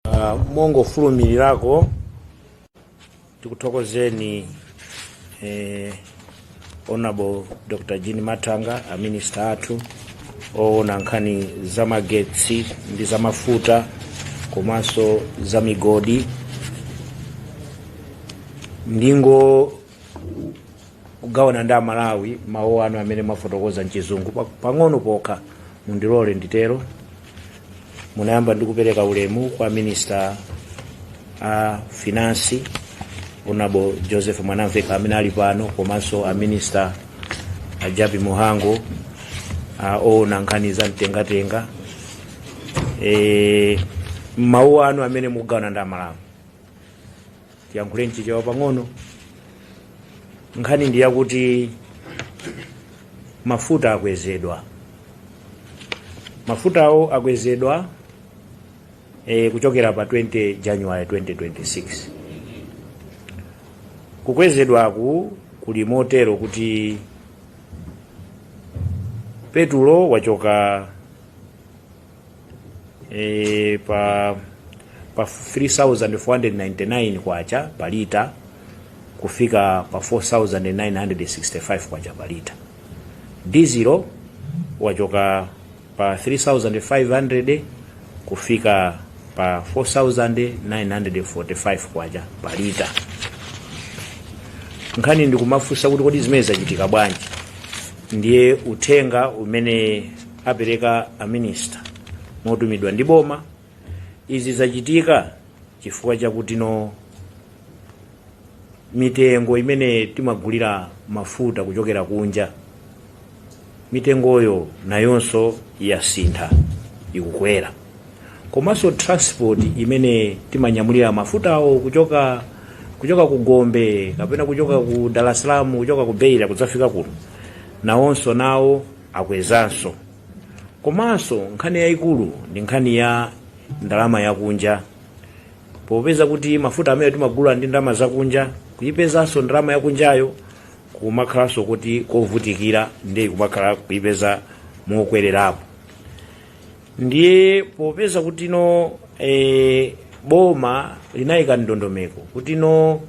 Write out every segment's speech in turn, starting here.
Uh, mongofulumirirako tikuthokozeni eh, honorable dr jean mathanga aminista athu oona nkhani za magetsi ndi za mafuta komanso za migodi ndingo kugawana ndi amalawi mawu anu amene mwafotokoza mchizungu pa- pang'ono pokha mundilole nditero munayamba ndi kupereka ulemu kwa minista a finansi honorable joseph mwanamveka amene ali pano komanso a minista a jappie mhango oona nkhani za mtengatenga e, mawu anu amene mugawana ndi amalawi tiyankhule mchichewa pang'ono nkhani ndi yakuti mafuta akwezedwa mafutawo akwezedwa e, kuchokera pa 20 january 2026 kukwezedwaku kuli motero kuti petulo wachoka e, pa 3499 kwacha pa lita kufika pa 4965 kwacha pa lita dizilo wachoka pa 3500 kufika pa 4945 kwacha pa lita nkhani ndikumafunsa kuti kodi zimene zachitika bwanji ndiye uthenga umene apereka a minister motumidwa ndi boma izi zachitika chifukwa chakuti no mitengo imene timagulira mafuta kuchokera kunja mitengoyo nayonso yasintha ikukwera komanso transport imene timanyamulira mafutawo kuchoka ku gombe kapena kuchoka ku dar es salaam kuchoka ku beira kudzafika kuno nawonso nawo akwezanso komanso nkhani yayikulu ndi nkhani ya ndalama yakunja popeza kuti mafuta amenewa timagula ndi ndalama zakunja kuyipezanso ndalama yakunjayo kumakhalanso kuti kovutikira ndiye kumakhala kuyipeza mokwererapo ndiye popeza kuti no e, boma linayika ndondomeko kuti no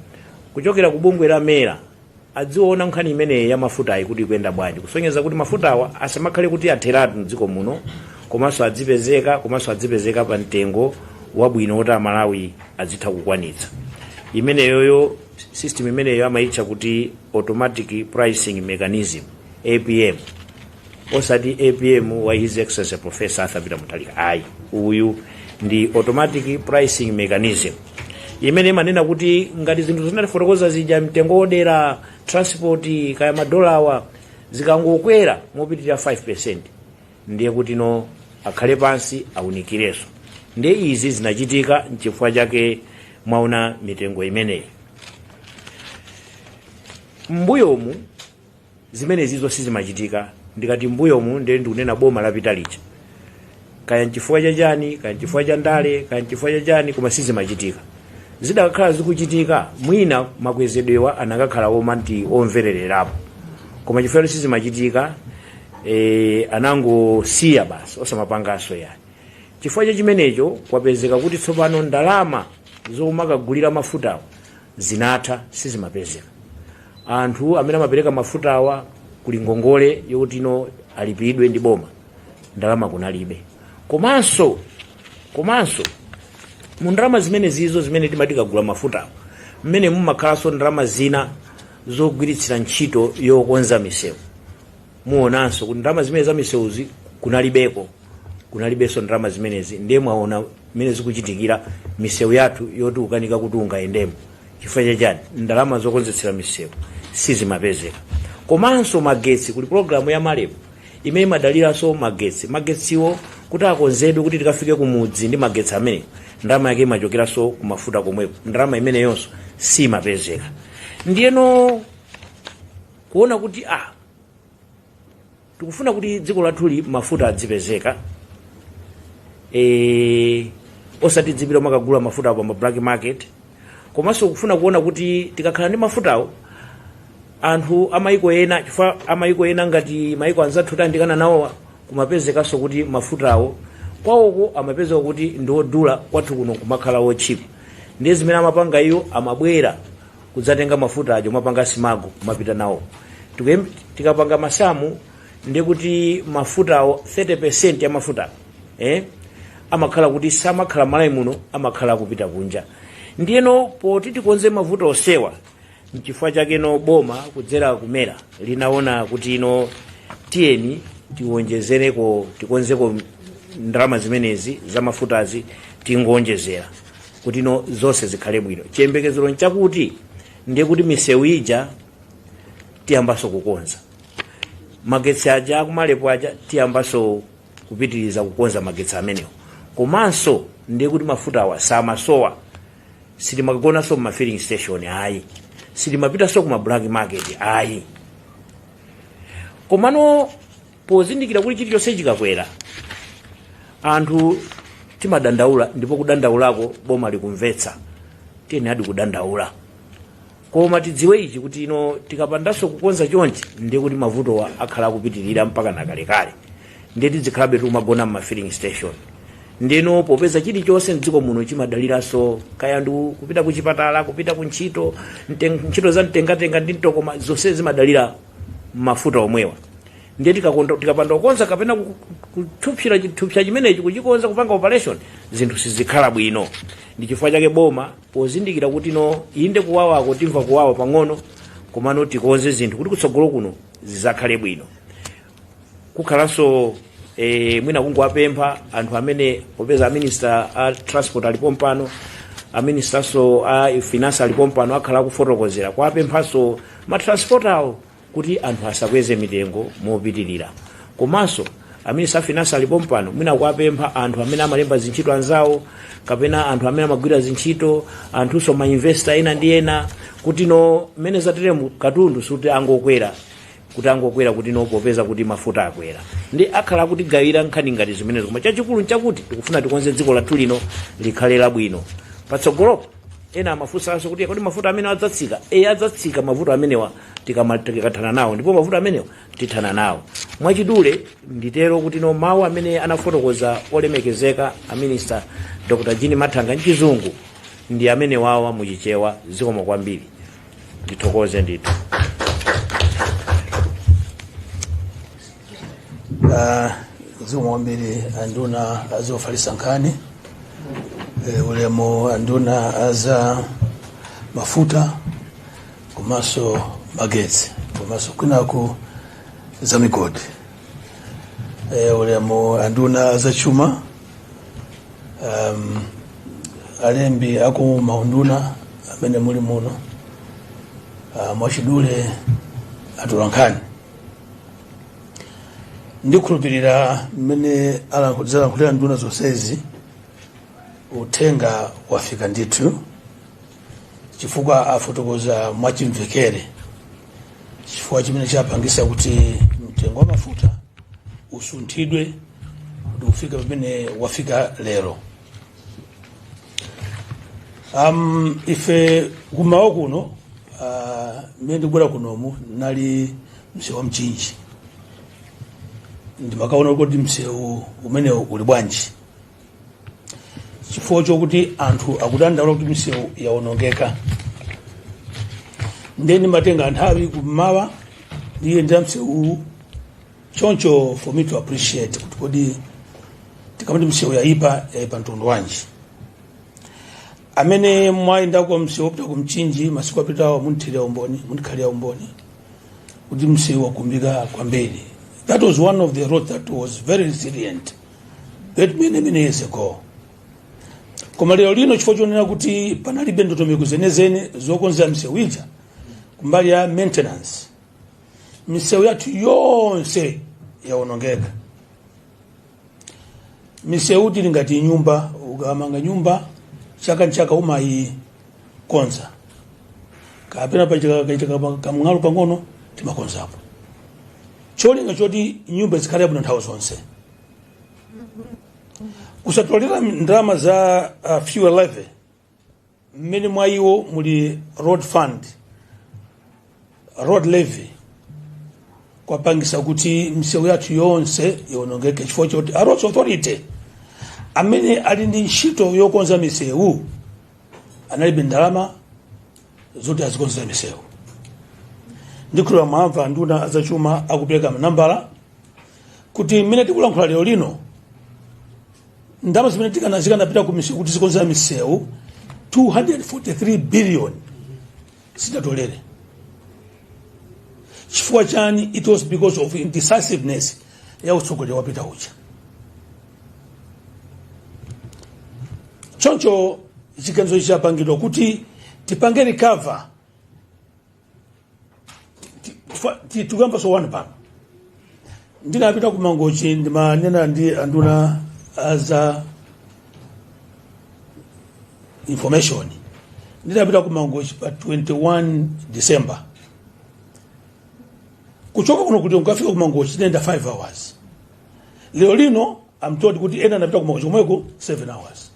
kuchokera ku bungwe la mera adziona nkhani imeneyi ya mafutayi kuti ikuyenda bwanji kusonyeza kuti mafutawa asamakhale kuti atheratu mdziko muno komanso adzipezeka komanso adzipezeka pa mtengo wabwino woti amalawi adzitha kukwanitsa imeneyoyo system imeneyo amayitcha kuti automatic pricing mechanism apm osati apm wa his excellency professor arthur peter mutharika ayi uyu ndi automatic pricing mechanism imene imanena kuti ngati zinthu zinatifotokoza zija mtengo wodera transport kaya madolawa zikangokwera mopitirira 5% ndiye kuti no akhale pansi awunikirenso ndiye izi zinachitika nchifukwa chake mwaona mitengo imeneyi mbuyomu Zimenezizo sizimachitika ndikati mbuyomu nde ndikunena boma lapita lija kaya nchifukwa cha chani kaya nchifukwa cha ndale kaya nchifukwa cha chani koma sizimachitika zidakakhala zikuchitika mwina makwezedwewa anakakhala omati omvererekapo koma chifukwa kuti sizimachitika eh, anangosiya basi osamapanganso yani chifukwa cha chimenecho kwapezeka kuti tsopano ndalama zomakagulira mafutawo zinatha sizimapezeka anthu amene amapereka mafutawa kuli ngongole yokuti ino alipidwe ndi boma ndalama kunalibe komanso komanso mu ndalama zimenezizo zimene timati tikagula mafuta mmene mumakhalanso ndalama zina zogwiritsira ntchito yokonza misewu muonanso kuti ndalama zimene zamisewuzi kunalibeko kunalibenso ndalama zimenezi ndiye mwaona mmene zikuchitikira misewu yathu yoti tukanika kuti tingayendemo chifukwa chachani ndalama zokonzetsera misewu sizimapezeka komanso magetsi kuli pologalamu ya malepo imene imadaliranso magetsi magetsiwo kuti akonzedwe kuti tikafike kumudzi ndi magetsi amenewo ndalama yake imachokeranso kumafuta komweko ndalama imeneyonso simapezeka ndiyeno kuona kuti ah tikufuna kuti dziko lathuli mafuta adzipezeka e, osati tidzipita kumakagula mafutawo pa ma black market komanso kufuna kuona kuti tikakhala ndi mafutawo anthu amayiko ena chifukwa amayiko ena ngati mayiko anzathu tayandikana nawo kumapezekanso kuti mafutawo kwawoko amapezeka kuti ndiodula kwathu kuno kumakhala wotchipa ndiye zimene amapanga iwo amabwera kudzatenga mafuta aja kumapanga smuggle kumapita nawo Tikuyem- tikapanga masamu ndiye kuti mafutawo 30% ya mafuta eh? amakhala kuti samakhala malawi muno amakhala akupita kunja ndiyeno poti tikonze mavuto onsewa nchifukwa chake no boma kudzera ku mera linaona kuti ino tiyeni tiwonjezereko tikonzeko ndalama zimenezi za mafutazi tingoonjezera kuti no zonse zikhale bwino chiyembekezero nchakuti ndiye kuti misewu ija tiyambanso kukonza magetsi aja aku marep aja tiyambanso kupitiriza kukonza magetsi amenewo komanso ndiye kuti mafutawa samasowa sitimagonanso muma filling station ayi sitimapitanso kuma black market ayi komano pozindikira kuti chilichonse chikakwera anthu timadandaula ndipo kudandaulako boma likumvetsa tiyeneradi kudandaula koma tidziwe ichi kuti ino tikapandanso kukonza chonchi ndiye kuti mavutowa akhala akupitirira mpaka nakalekale ndiye tidzikhalabe tikumagona m'ma filling station ndipo popeza chilichonse mdziko muno chimadaliranso kaya ndi kupita kuchipatala kupita ku ntchito mten- ntchito za mtengatenga ndi mtokoma zonse zimadalira mafuta omwewa ndiye tikakonza- tikapanda kukonza kapena ku- ku- kuphulitsa chithupsa chimenechi kuchikonza kupanga operation zinthu sizikhala bwino ndi chifukwa chake boma pozindikira kuti no inde kuwawako timva kuwawa pang'ono komano tikonze zinthu kuti kutsogolo kuno zidzakhale bwino kukhalanso e, mwina kungowapempha anthu amene popeza aminister a transport alipo mpano aministranso a finance alipo mpano akhala akufotokozera kuwapemphanso matransporter awo kuti anthu asakweze mitengo mopitirira komanso aminister a finance alipo mpano mwina kuwapempha anthu amene amalemba zintchito anzawo kapena anthu amene amagwira zintchito anthunso mainvesta ena ndi ena kuti no mmene zateremu katundu suti angokwera kuti angokwera kuti no popeza kuti mafuta akwera ndiye akhala akutigawira nkhani ngati zimenezo koma chachikulu nchakuti tikufuna tikonze dziko lathu lino likhale labwino patsogolopo ena amafunsanso kuti kodi mafuta amenewa adzatsika e adzatsika mavuto amenewa tikama- tikathana nawo ndipo mavuto amenewa tithana nawo mwachidule nditero kuti no mawu amene anafotokoza olemekezeka a minista dr Jean Mathanga mchizungu ndi amenewawa muchichewa zikomo kwambiri ndithokoze ndithu Ah, zikomo kwambiri anduna azofalitsa nkhani Eh, ulemu anduna a za mafuta komanso magetsi komanso kwinaku za migodi Eh, ulemu anduna azachuma um, alembi aku maunduna amene muli muno uh, mwachidule atolankhani ndikhulupirira mmene alankhulira nduna zonsezi uthenga wafika ndithu chifukwa afotokoza mwachimvekere chifukwa chimene chapangisa kuti mtengo wa mafuta usunthidwe kuti ufike pamene wafika lero um, ife kumawa kuno uh, mmene ndikubwera kunomu ndinali msewu wa mchinji ndimakaona kuti msewu umenewu uli bwanji chifukwa chokuti anthu akudandaula kuti misewu yawonongeka ndiye ndimatenga nthawi kummawa ndiyenda msewu choncho for me to appreciate kuti kodi tikamati msewu yayipa yayipa mtundu wanji amene mwayendako msewu wopita ku mchinji masiku apitawo munthirira umboni mundikhalira umboni kuti msewu wakumbika kwambiri that was one of the roads that was very resilient many many years ago koma lero lino chifukwa chonena kuti panalibe ndondomeko zenizeni zokonzera misewu ija kumbali ya maintenance misewu yathu yonse yawonongeka misewu ili ngati nyumba ukamanga nyumba chaka nchaka umayi konza kapena pakachitika kamng'alu pang'ono timakonzapo cholinga choti nyumba zikhale bwino nthawi zonse kusatolera ndalama za uh, fuel levy mmene mwa iwo muli road fund road levy kwapangisa kuti misewu yathu yonse ionongeke chifukwa choti a roads authority amene ali ndi ntchito yokonza misewu analibe ndalama zoti azikonzera misewu ndikhulupirira mwamva nduna ya zachuma akupereka manambala kuti mmene tikulankhula lero lino ndalama zimene tikana zikanapita ku misewu kuti zikonzere misewu 243 billion sitinatolere chifukwa chani it was because of indecisiveness ya utsogoleri wapita uja choncho chiganizo chapangidwa kuti tipange recover Ti- tifa- ti- tikuyambanso one pano ndinapita ku mangochi ndimanena ndi anduna aza information ndinapita ku mangochi pa 21 december kuchoka kuno kuti ndikafike ku mangochi ndinayenda 5 hours lero lino I'm told kuti ena anapita ku mangochi komweko 7 hours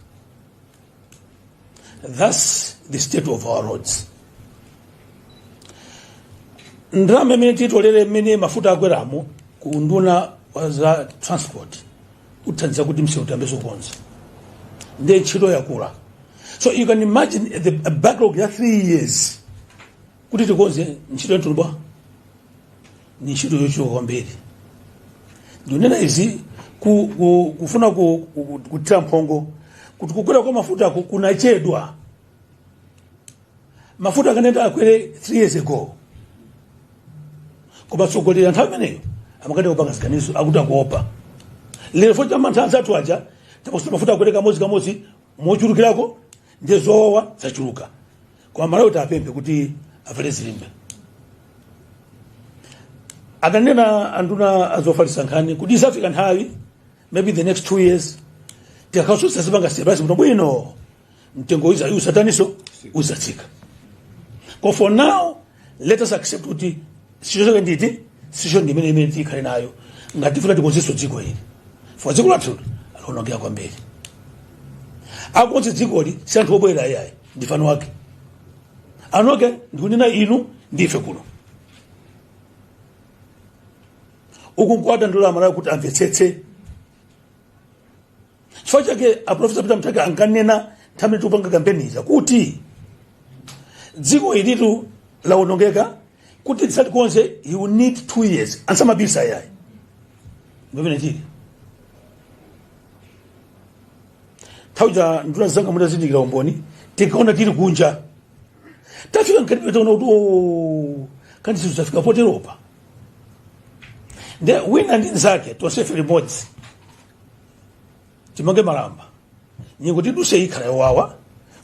that's the state of our roads ndalama imene titolere mmene mafuta akweramo ku unduna wa za transport ithandiza kuti msewu tiyambenso kukonza ndiye ntchito yakula so you can imagine a backlog ya three years kuti tikonze ntchito yatuluba ni ntchito yochuluka kwambiri ndinena izi ku, ku, kufuna ku, ku, kuthira mphongo kuti kukwera kwa mafuta ku- kunachedwa mafuta akanayenera akwere 3 years ago koma atsogoleri a nthawi imeneyo amakanika kupanga ziganizo akuti akuopa lero fukwa cha mantha anzathu aja tapakuti mafuta akwere kamodzi kamodzi mochulukirako ndi zowawa zachuluka koma amalawi tiwapemphe kuti avale zilimbe adanena anduna azofalitsa nkhani kuti izafika nthawi maybe the next two years tikakhasusitsa zipanga stabilize bwino bwino mtengo uza- uzataniso uzatsika koma for now let us accept kuti situation nditi situation ndi imene imene tikhale nayo ngati tifuna tikonzenso dziko ili fukwa dziko lathu laonongeka kwambiri akonze dzikoli si anthu obwera ayayi ndife eni wake anoke ndikunena inu ndife kuno uku nkuwadandaulira amalawi kuti amvetsetse chifukwa chake aprofesa peter mutharika ankanena nthawi tikupanga kampeni ija kuti dziko ilitu lawonongeka kuti tizalikonze you need two years samabisa yayi ndimene tili nthawi ja nduna zanga mutazindikira umboni tinkaona tili kunja tafika mkati taona kuti o kani zinthu zafika poteropa nde wina ndi nzake tonsefe limodzi timange malamba nyengo tidutse ikhala yowawa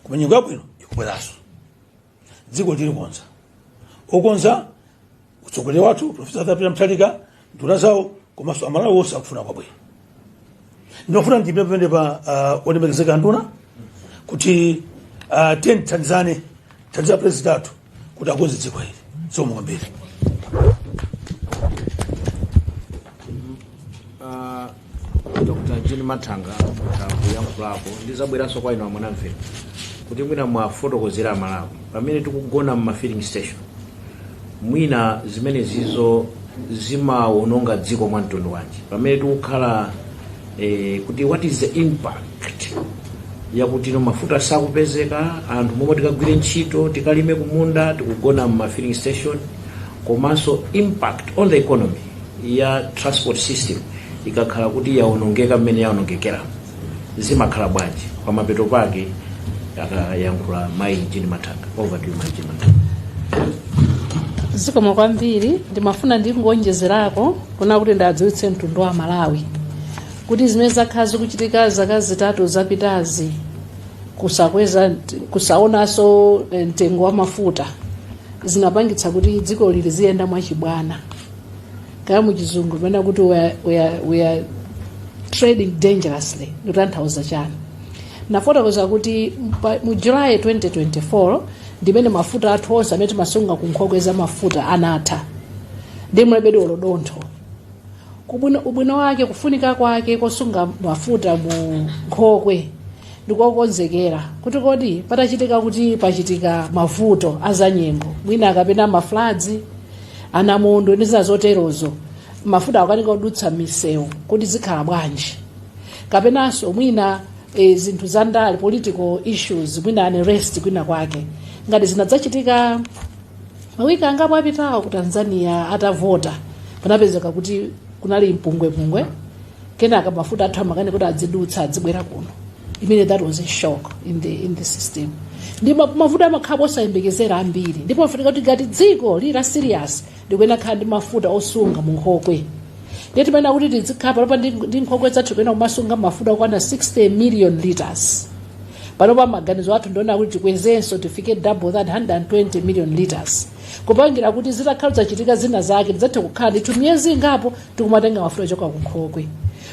koma nyengo yabwino ikubweranso dzikoli alikonza okonza mtsogoleri wathu profesa arthur peter mutharika nduna zawo komanso amalawi wonse akufuna kwabwino ndimafuna ndipemphe pamenepa uh, olemekezeka nduna kuti uh, tiyeni tithandizane tithandize president athu kuti akonze dziko ili zikomo kwambiri Ah, dr jean mathanga kuyankhulapo ndizabweranso kwa inu a mwanamvekha kuti mwina muwafotokozere amalawi pamene tikugona mma filling station mwina zimenezizo zimawononga dziko mwa mtundu wanji pamene tikukhala e, kuti what is the impact yakuti no mafuta sakupezeka anthu momwe tikagwire ntchito tikalime kumunda tikugona mma filling station komanso impact on the economy ya transport system ikakhala kuti yaonongeka mmene yaonongekera zimakhala bwanji pamapeto pake akayankhula mayi jean mathanga over to you mayi jean mathanga zikomo kwambiri ndimafuna ndingowonjezerako kunena kuti ndadziwitse mtundu wa malawi kuti zimene zakhala zikuchitika zaka zitatu zapitazi kusakweza kusaonanso mtengo wa mafuta zinapangitsa kuti dziko lino liziyenda mwachibwana kaya muchizungu pena kuti we are, we are, we are trading dangerously ndikutanthauza chani ndafotokoza kuti mpa- mu july 2024 ndimene mafuta athu onse amene timasunga ku nkhokwe za mafuta anatha ndiye mulibedi olo dontho kubwino ubwino wake kufunika kwake kosunga mafuta mu nkhokwe ndikokonzekera kuti kodi patachitika kuti pachitika mavuto azanyengo mwina kapena mafladzi anamondo ndi zina zoterozo mafuta akanika kudutsa misewu kuti zikhala bwanji kapenanso mwina e, zinthu za ndale political issues mwina unrest kwina kwake ngati zinadzachitika mawiki angapo apitawo ku tanzania atavota panapezeka kuti kunali mpungwepungwe kenaka mafuta athu amakanika kuti adzidutsa adzibwera kuno imene that was a shock in the, in the system ndi ma- mafuta amakhala osapezeka ambiri ndipofunika kuti ngati dziko lili la serious likuyenera kukhala ndi mafuta osunga mu nkhokwe ndiye timayenera kuti tizikhala panopa ndi ndi nkhokwe zathu kuyenera kumasunga mafuta okwana 60 million liters panopa maganizo athu ndi onena kuti tikwezenso tifike double that 120 million liters kupangira kuti zitakhala zachitika zina zake tidzathe kukhala ndithu miyezi ingapo tikumatenga mafuta kuchoka kunkhokwe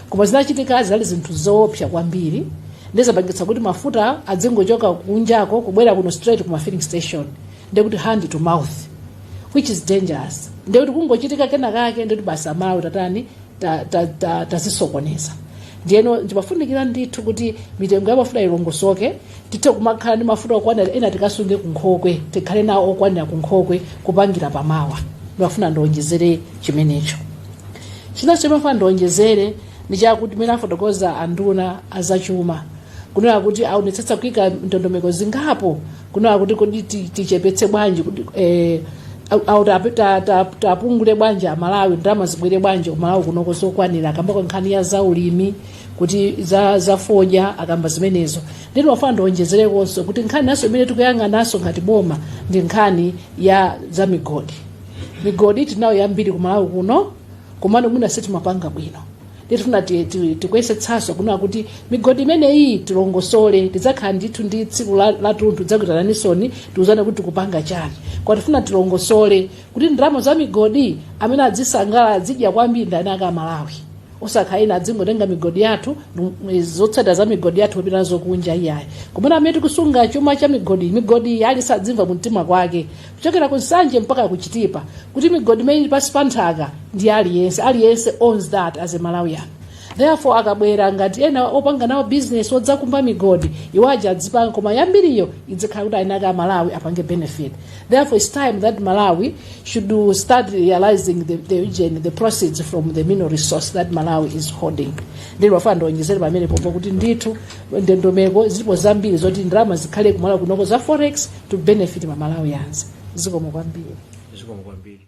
koma zinachitika zinali zinthu zoopsa kwambiri ndizimene zapangitsa kuti mafuta adzingochoka kunjako kubwera kuno straight ku mafilling station ndekuti hand to mouth which is dangerous ndekuti kungochitika kena kake ndekuti basi amalawi tatani tazisokoneza ta, ta, ta ndiyeno ndi pofunikira ndithu kuti mitengo ya mafuta ilongosoke tithe kumakhala ndi mafuta okwanira ena tikasunge kunkhokwe tikhale nawo okwanira kunkhokwe kupangira pamawa ndimafuna ndionjezere chimenecho chinanso ndimafuna ndionjezere ndi chakuti mmene afotokoza anduna azachuma kunena kuti aonetsetsa kuika ndondomeko zingapo kunena kuti kodi ti- tichepetse bwanji kuti eh, au- au tape- ta- ta- tapungule bwanji amalawi ndalama zibwere bwanji kumalawi kunoko zokwanira akambako nkhani ya zaulimi kuti za, za fodya akamba zimenezo ndiye ine ndafuna ndionjezerekonso kuti nkhani inanso imene tikuyang'ananso ngati boma ndi nkhani ya za migodi migodi tinayo yambiri kumalawi kuno komano mwina sitimapanga bwino tifuna ti- ti- tikuyesetsanso kunena kuti migodi imeneyi tilongosole tidzakhala ndithu ndi tsiku la- latunthu tidzakuitananinsoni tiuzane kuti tikupanga chani koma tifuna tilongosole kuti ndalama za migodi amene adzisangalala adzidya kwambiri ndi eni ake amalawi osakhala ena adzingotenga migodi yathu nu- zotsatira za migodi yathu kupita nazo kunja iyayi pomwe amene tikusunga chuma cha migodi migodi ali sadzimva mumtima mwake kuchokera ku nsanje mpaka ku chitipa kuti migodi imene ili pansi pa nthaka ndi ya aliyense aliyense owns that as a malawian therefore akabwera ngati ena opanga nawo business odzakumba migodi iwo aja adzipanga koma yambiriyo idzikhala kuti ayinaka a malawi apange benefit therefore its time that malawi should do- start realizing the, the, ujeni, the proceeds from the mineral resource that malawi is holding ndimafuna ndiwonjezere pamenepopo kuti ndithu ndondomeko zilipo zambiri zoti ndalama zikhale kumalawi kunoko za forex to benefit ma Malawians. Zikomo kwambiri. zikomo kwambiri